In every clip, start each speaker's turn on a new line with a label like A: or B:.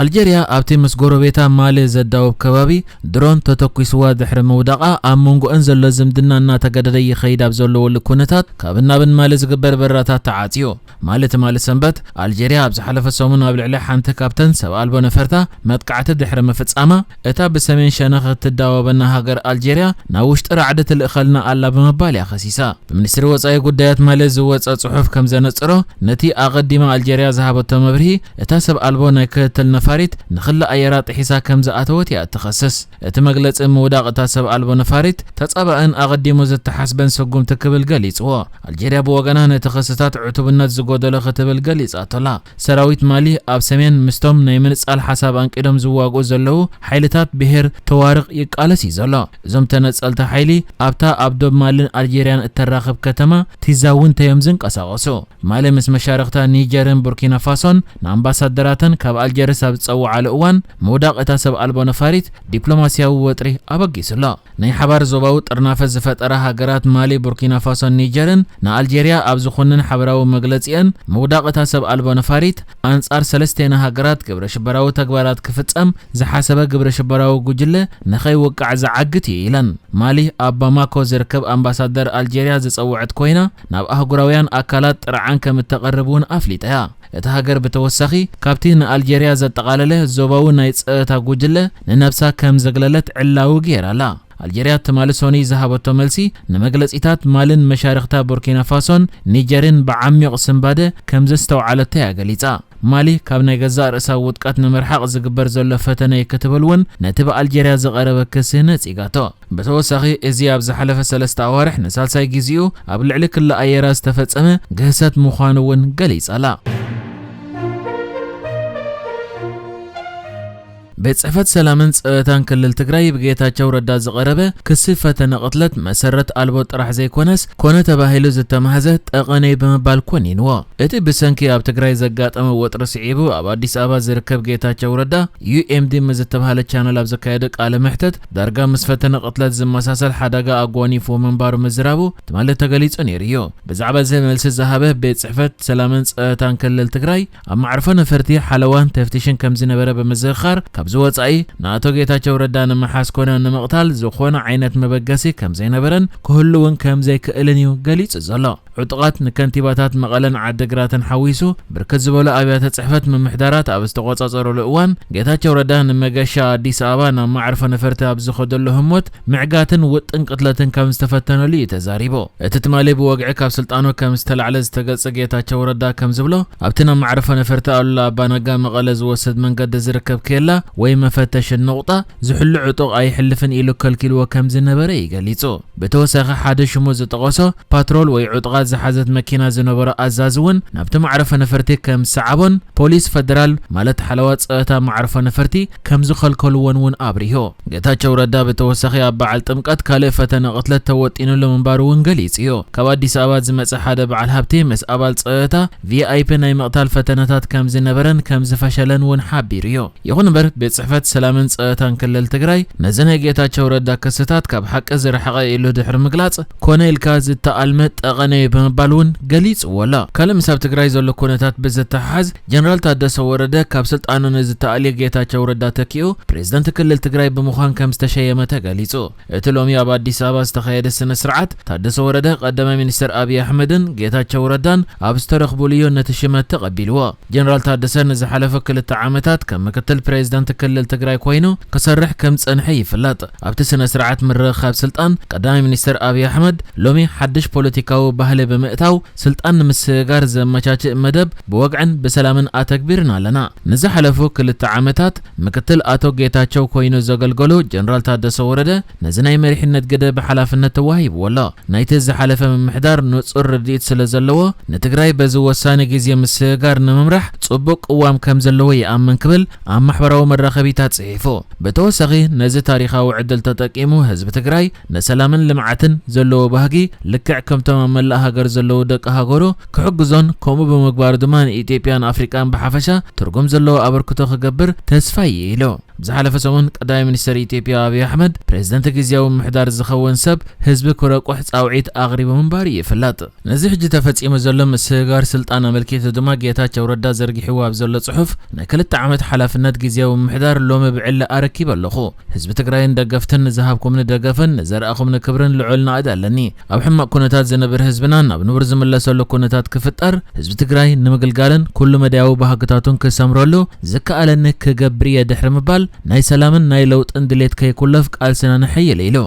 A: ኣልጀርያ ኣብቲ ምስ ጎረቤታ ማሊ ዘዳውብ ከባቢ ድሮን ተተኲስዋ ድሕሪ ምውዳቓ ኣብ መንጎኣን ዘሎ ዝምድና እናተገደደ ይኸይድ ኣብ ዘለወሉ ኩነታት ካብን ናብን ማሊ ዝግበር በረራታት ተዓጽዩ። ማሊ ትማሊ ሰንበት ኣልጀርያ ኣብ ዝሓለፈ ሰሙን ኣብ ልዕሊ ሓንቲ ካብተን ሰብ ኣልቦ ነፈርታ መጥቃዕቲ ድሕሪ ምፍጻማ፣ እታ ብሰሜን ሸነኽ እትዳወበና ሃገር ኣልጀርያ ናብ ውሽጢ ራዕዲ ትልእኸልና ኣላ ብምባል እያ ከሲሳ። ብሚኒስትሪ ወጻኢ ጉዳያት ማሊ ዝወጸ ጽሑፍ ከም ዘነጽሮ፣ ነቲ ኣቐዲማ ኣልጀርያ ዝሃበቶ መብርሂ፣ እታ ሰብ ኣልቦ ናይ ክትትል ነፋሪት ንክሊ ኣየራ ጥሒሳ ከም ዝኣተወት እያ እትኸስስ። እቲ መግለጺ ምውዳቕ እታ ሰብ ኣልቦ ነፋሪት ተጻባእን ኣቐዲሙ ዝተሓስበን ስጉምቲ ክብል ገሊጽዎ። ኣልጀርያ ብወገና ነቲ ክስታት ዕቱብነት ዝጎደሎ ክትብል ገሊጻቶ'ላ። ሰራዊት ማሊ ኣብ ሰሜን ምስቶም ናይ ምንጻል ሓሳብ ኣንቂዶም ዝዋግኡ ዘለዉ ሓይልታት ብሄር ቶዋርቕ ይቃለስ እዩ ዘሎ። እዞም ተነጸልቲ ሓይሊ ኣብታ ኣብ ዶብ ማልን ኣልጀርያን እተራኽብ ከተማ ቲዛውንተ እዮም ዝንቀሳቐሱ። ማሊ ምስ መሻርኽታ ኒጀርን ቡርኪናፋሶን ንኣምባሳደራተን ካብ ኣልጀርስ ኣብ ዝጸውዓሉ እዋን ምውዳቕ እታ ሰብ ኣልቦ ነፋሪት ዲፕሎማስያዊ ወጥሪ ኣበጊሱ ኣሎ። ናይ ሓባር ዞባዊ ጥርናፈ ዝፈጠራ ሃገራት ማሊ፣ ቡርኪናፋሶን ኒጀርን ንኣልጀርያ ኣብ ዝኹንን ሓበራዊ መግለጺኤን፣ ምውዳቕ እታ ሰብ ኣልቦ ነፋሪት ኣንጻር ሰለስቴና ሃገራት ግብረ ሽበራዊ ተግባራት ክፍጸም ዝሓሰበ ግብረ ሽበራዊ ጉጅለ ንኸይውቃዕ ዝዓግት እዩ ኢለን። ማሊ ኣብ ባማኮ ዝርከብ ኣምባሳደር ኣልጀርያ ዝጸወዐት ኮይና፣ ናብ ኣህጉራውያን ኣካላት ጥርዓን ከም እተቕርብ እውን ኣፍሊጣ እያ። እታ ሃገር ብተወሳኺ ካብቲ ንኣልጀርያ ዘጠቓለለ ዞባዊ ናይ ጸጥታ ጉጅለ ንነብሳ ከም ዘግለለት ዕላዊ ገይራ'ላ። ኣልጀርያ ትማሊ ሶኑይ ዝሃበቶ መልሲ ንመግለጺታት ማልን መሻርኽታ ቡርኪናፋሶን ኒጀርን ብዓሚቕ ስንባደ ከም ዘስተውዓለቶ'ያ ገሊጻ። ማሊ ካብ ናይ ገዛእ ርእሳ ውድቀት ንምርሓቕ ዝግበር ዘሎ ፈተነ'ዩ ክትብል ውን ነቲ ብኣልጀርያ ዝቐረበ ክሲ ነጺጋቶ። ብተወሳኺ እዚ ኣብ ዝሓለፈ ሰለስተ ኣዋርሕ ንሳልሳይ ግዜኡ ኣብ ልዕሊ ክሊ ኣየራ ዝተፈጸመ ግህሰት ምዃኑ እውን ገሊጻ'ላ። ቤት ጽሕፈት ሰላምን ጸጥታን ክልል ትግራይ ብጌታቸው ረዳ ዝቐረበ ክሲ ፈተነ ቅትለት መሰረት ኣልቦ ጥራሕ ዘይኮነስ ኮነ ተባሂሉ ዝተማህዘ ጠቐነ'ዩ ብምባል ኮኒንዎ። እቲ ብሰንኪ ኣብ ትግራይ ዘጋጠመ ወጥሪ ስዒቡ ኣብ ኣዲስ ኣበባ ዝርከብ ጌታቸው ረዳ ዩኤምዲ ምስ ዝተብሃለ ቻነል ኣብ ዘካየዶ ቃለ መሕተት ዳርጋ ምስ ፈተነ ቅትለት ዝመሳሰል ሓደጋ ኣጓኒፍዎ ምንባሩ ምዝራቡ ትማሊ ተገሊጹ ነይሩ እዩ። ብዛዕባ እዚ መልሲ ዝሃበ ቤት ጽሕፈት ሰላምን ጸጥታን ክልል ትግራይ ኣብ መዕርፎ ነፈርቲ ሓለዋን ተፍቲሽን ከምዝነበረ ብምዝኽኻር ካብዚ ወጻኢ ንኣቶ ጌታቸው ረዳ ንምሓዝ ኮነ ንምቕታል ዝኾነ ዓይነት መበገሲ ከምዘይነበረን ክህሉ እውን ከምዘይክእልን እዩ ገሊጹ ዘሎ። ዕጡቓት ንከንቲባታት መቐለን ዓዲግራትን ሓዊሱ ብርክት ዝበሉ ኣብያተ ፅሕፈት ምምሕዳራት ኣብ ዝተቖፃፀሩሉ እዋን ጌታቸው ረዳ ንመገሻ ኣዲስ ኣበባ ናብ መዕርፎ ነፈርቲ ኣብ ዝኸደሉ ህሞት ምዕጋትን ውጥን ቅትለትን ከም ዝተፈተነሉ እዩ ተዛሪቡ። እቲ ትማሊ ብወግዒ ካብ ስልጣኑ ከም ዝተላዕለ ዝተገልፀ ጌታቸው ረዳ ከም ዝብሎ ኣብቲ ናብ መዕርፎ ነፈርቲ ኣሉላ ኣባነጋ መቐለ ዝወስድ መንገዲ ዝርከብ ኬላ ወይ መፈተሺ ኑቕጣ ዝሕሉ ዕጡቕ ኣይሕልፍን ኢሉ ከልኪልዎ ከም ዝነበረ እዩ ገሊፁ። ብተወሳኺ ሓደ ሽሙ ዝጠቐሶ ፓትሮል ወይ ዕጡቓት ዝሓዘት መኪና ዝነበሮ ኣዛዚ እውን ናብቲ መዕረፎ ነፈርቲ ከም ዝሰዓቦን ፖሊስ ፈደራል ማለት ሓለዋ ፀእታ መዓርፎ ነፈርቲ ከም ዝኸልከልዎን እውን ኣብሪሁ። ጌታቸው ረዳ ብተወሳኺ ኣብ በዓል ጥምቀት ካልእ ፈተነ ቅትለት ተወጢንሉ ምንባሩ እውን ገሊፁ እዩ። ካብ ኣዲስ ኣበባ ዝመፀ ሓደ በዓል ሃብቲ ምስ ኣባል ፀእታ ቪኣይፒ ናይ ምቕታል ፈተነታት ከምዝነበረን ከምዝፈሸለን እውን ሓቢሩ እዩ። ይኹን እምበር ቤት ፅሕፈት ሰላምን ፀእታን ክልል ትግራይ ነዚ ናይ ጌታቸው ረዳ ክስታት ካብ ሓቂ ዝረሓቐ እዩ ኢሉ ድሕሪ ምግላፅ ኮነ ኢልካ ዝተኣልመ ጠቐነ እዩ ብምባል እውን ገሊፅዎ ኣሎ። ካልእ ምስ ኣብ ትግራይ ዘሎ ኩነታት ብዝተሓሓዝ ጀነራል ታደሰ ወረደ ካብ ስልጣኑ ንዝተኣልየ ጌታቸው ረዳ ተኪኡ ፕሬዝደንት ክልል ትግራይ ብምዃን ከምዝተሸየመ ተገሊፁ። እቲ ሎሚ ኣብ ኣዲስ ኣበባ ዝተኻየደ ስነ ስርዓት፣ ታደሰ ወረደ ቀዳማይ ሚኒስተር ኣብዪ ኣሕመድን ጌታቸው ረዳን ኣብ ዝተረኽቡሉዮ ነቲ ሽመት ተቐቢሉዎ። ጀነራል ታደሰ ንዝሓለፈ ክልተ ዓመታት ከም ምክትል ፕሬዝደንት ክልል ትግራይ ኮይኑ ክሰርሕ ከም ዝፀንሐ ይፍለጥ። ኣብቲ ስነ ስርዓት ምርኽኻብ ስልጣን፣ ቀዳማይ ሚኒስተር ኣብዪ ኣሕመድ ሎሚ ሓድሽ ፖለቲካዊ ባህሊ ብምእታው፣ ስልጣን ንምስግጋር ዘመቻችእ መደብ ብወግዕን ብሰላምን ኣተግቢርና ኣለና። ንዝሓለፉ ክልተ ዓመታት ምክትል ኣቶ ጌታቸው ኮይኑ ዘገልገሉ ጀነራል ታደሰ ወረደ ነዚ ናይ መሪሕነት ግደ ብሓላፍነት ተዋሂብዎ ኣሎ። ናይቲ ዝሓለፈ ምምሕዳር ንፁር ርድኢት ስለዘለዎ ንትግራይ በዚ ወሳኒ ግዜ ምስግጋር ንምምራሕ ፅቡቕ ቅዋም ከምዘለዎ ይኣምን ክብል ኣብ ማሕበራዊ መራኸቢታት ፅሒፉ። ብተወሳኺ ነዚ ታሪኻዊ ዕድል ተጠቂሙ ህዝቢ ትግራይ ንሰላምን ልምዓትን ዘለዎ ባህጊ ልክዕ ከምቶም ኣብ መላእ ሃገር ዘለዉ ደቂ ሃገሩ ክሕግዞን ከምኡ ብምግባሩ ድማ ንኢትዮጵያን ኣፍሪቃን ብሓፈሻ ትርጉም ዘለዎ ኣበርክቶ ክገብር ተስፋ'ዩ ኢሉ። ኣብ ዝሓለፈ ሰሙን ቀዳማይ ሚኒስተር ኢትዮጵያ ኣብዪ ኣሕመድ ፕሬዝደንት ግዝያዊ ምምሕዳር ዝኸውን ሰብ ህዝቢ ክረቁሕ ጻውዒት ኣቕሪቡ ምንባሩ ይፍለጥ። ነዚ ሕጂ ተፈጺሙ ዘሎ ምስግጋር ስልጣን ኣመልኪቱ ድማ ጌታቸው ረዳ ዘርጊሕዎ ኣብ ዘሎ ጽሑፍ ናይ ክልተ ዓመት ሓላፍነት ግዝያዊ ምምሕዳር ሎሚ ብዕሊ ኣረኪበ ኣለኹ። ህዝቢ ትግራይን ደገፍትን ንዝሃብኩምኒ ደገፍን ንዘረኣኹምኒ ክብርን ልዑል ናእድ ኣለኒ። ኣብ ሕማቕ ኩነታት ዝነብር ህዝብና ናብ ንቡር ዝምለሰሉ ኩነታት ክፍጠር ህዝቢ ትግራይ ንምግልጋልን ኩሉ መዳያዊ ባህግታቱን ክሰምረሉ ዝከኣለኒ ክገብር እየ ድሕሪ ምባል ናይ ሰላምን ናይ ለውጥን ድሌት ከይኩለፍ ቃልስና ነሐይል ኢሉ።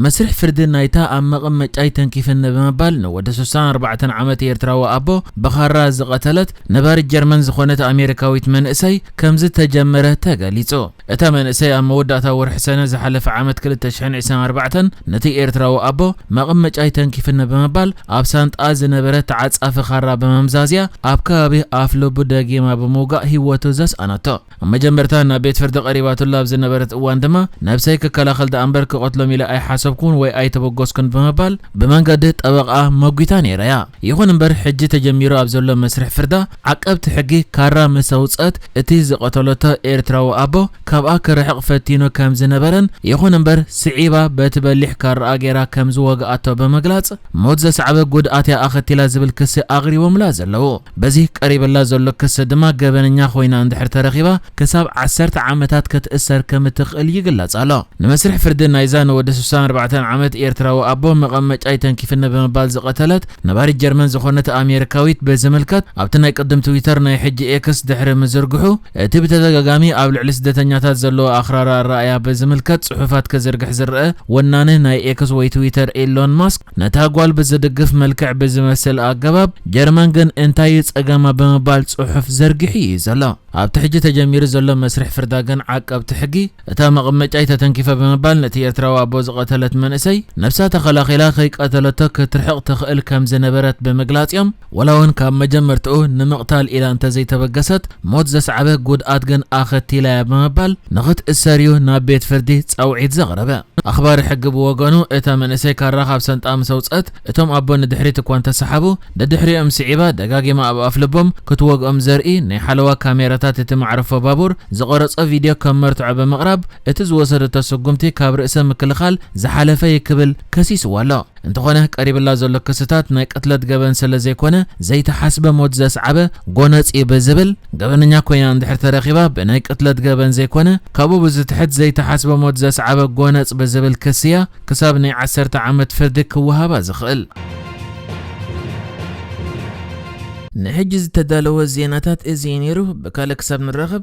A: መስርሕ ፍርዲ ናይታ ኣብ መቐመጫይ ተንኪፍኒ ብምባል ንወዲ ስሳን ኣርባዕተን ዓመት ኤርትራዊ ኣቦ ብኻራ ዝቐተለት ነባሪት ጀርመን ዝኾነት ኣሜሪካዊት መንእሰይ ከምዝተጀመረ ተገሊጹ። እታ መንእሰይ ኣብ መወዳእታ ወርሒ ሰነ ዝሓለፈ ዓመት ክልተ ሽሕን ዒስራን ኣርባዕተን ነቲ ኤርትራዊ ኣቦ መቐመጫይ ተንኪፍኒ ብምባል ኣብ ሳንጥኣ ዝነበረ ተዓጻፊ ኻራ ብምምዛዝ'ያ ኣብ ከባቢ ኣፍልቡ ደጊማ ብምውጋእ ህይወቱ ዘስኣነቶ። ኣብ መጀመርታ ናብ ቤት ፍርዲ ቀሪባትሉ ኣብ ዝነበረት እዋን ድማ፣ ነብሰይ ክከላኸል ደኣ እምበር ክቐትሎም ኢለ ኣይሓሰብኩን ወይ ኣይተበገስኩን ብምባል ብመንገዲ ጠበቓኣ መጒታ ነይራ'ያ። ይኹን እምበር ሕጂ ተጀሚሩ ኣብ ዘሎ መስርሕ ፍርዳ፣ ዓቀብቲ ሕጊ ካራ ምስ ኣውጽኣት እቲ ዝቐተለቶ ኤርትራዊ ኣቦ ካብኣ ክርሕቕ ፈቲኑ ከም ዝነበረን ይኹን እምበር ስዒባ በቲ በሊሕ ካራኣ ገይራ ከም ዝወግኣቶ ብምግላጽ ሞት ዘስዓበ ጉድኣት'ያ ኣኸቲላ ዝብል ክሲ ኣቕሪቦምላ ዘለዉ። በዚ ቀሪብላ ዘሎ ክሲ ድማ ገበነኛ ኮይና እንድሕር ተረኺባ ክሳብ ዓሰርተ ዓመታት ክትእሰር ከምትኽእል ይግለጽ ኣሎ። ንመስርሕ ፍርዲ ናይዛ ንወዲ ስሳን ኣርባዕተን ዓመት ኤርትራዊ ኣቦ መቐመጫይ ተንኪፍኒ ብምባል ዝቐተለት ነባሪት ጀርመን ዝኾነት ኣሜሪካዊት ብዝምልከት ኣብቲ ናይ ቅድም ትዊተር ናይ ሕጂ ኤክስ ድሕሪ ምዝርግሑ እቲ ብተደጋጋሚ ኣብ ልዕሊ ስደተኛታት ዘለዎ ኣኽራሪ ኣረኣእያ ብዝምልከት ጽሑፋት ክዝርግሕ ዝረኣ ወናኒ ናይ ኤክስ ወይ ትዊተር ኤሎን ማስክ ነታ ጓል ብዝድግፍ መልክዕ ብዝመስል ኣገባብ፣ ጀርመን ግን እንታይ እዩ ጸገማ ብምባል ጽሑፍ ዘርጊሑ እዩ ዘሎ። ኣብቲ ሕጂ ተጀሚሩ ዘሎ መስርሕ ፍርዳ ግን ዓቀብቲ ሕጊ፣ እታ መቐመጫይ ተተንኪፈ ብምባል ነቲ ኤርትራዊ ኣቦ ዝቐተለት መንእሰይ፣ ነብሳ ተኸላኺላ ከይቀተለቶ ክትርሕቕ ትኽእል ከምዝነበረት ብምግላጽ እዮም፣ ወላውን ካብ መጀመርታኡ ንምቕታል ኢላ እንተዘይተበገሰት ሞት ዘስዓበ ጉድኣት ግን ኣኸቲላ'ያ ብምባል ንኽትእሰር'ዩ ናብ ቤት ፍርዲ ጻውዒት ዘቕረበ። ኣኽባሪ ሕጊ ብወገኑ እታ መንእሰይ ካራ ካብ ሰንጣ ምስ ኣውጽኣት እቶም ኣቦ ንድሕሪት እኳ እንተሰሓቡ ደድሕሪኦም ስዒባ ደጋጊማ ኣብ ኣፍልቦም ክትወግኦም ዘርኢ ናይ ሓለዋ ካሜራታት እቲ መዕርፎ ባቡር ዝቐረጾ ቪድዮ ከም መርትዖ ብምቕራብ እቲ ዝወሰደቶ ስጉምቲ ካብ ርእሰ ምክልኻል ዝሓለፈ'ዩ ክብል ከሲስዋ'ሎ። እንተኾነ ቀሪብላ ዘሎ ክስታት ናይ ቅትለት ገበን ሰለዘይኮነ ዘይተሓስበ ሞት ዘስዓበ ጎነጽ እዩ ብዝብል ገበነኛ ኮይና እንድሕር ተረኺባ ብናይ ቅትለት ገበን ዘይኮነ ካብኡ ብዝትሕት ዘይተሓስበ ሞት ዘስዓበ ጎነጽ ብዝብል ክሲ እያ ክሳብ ናይ ዓሰርተ ዓመት ፍርዲ ክወሃባ ዝኽእል። ንሕጂ ዝተዳለወ ዜናታት እዚ እዩ ነይሩ። ብካልእ ክሳብ ንራኸብ።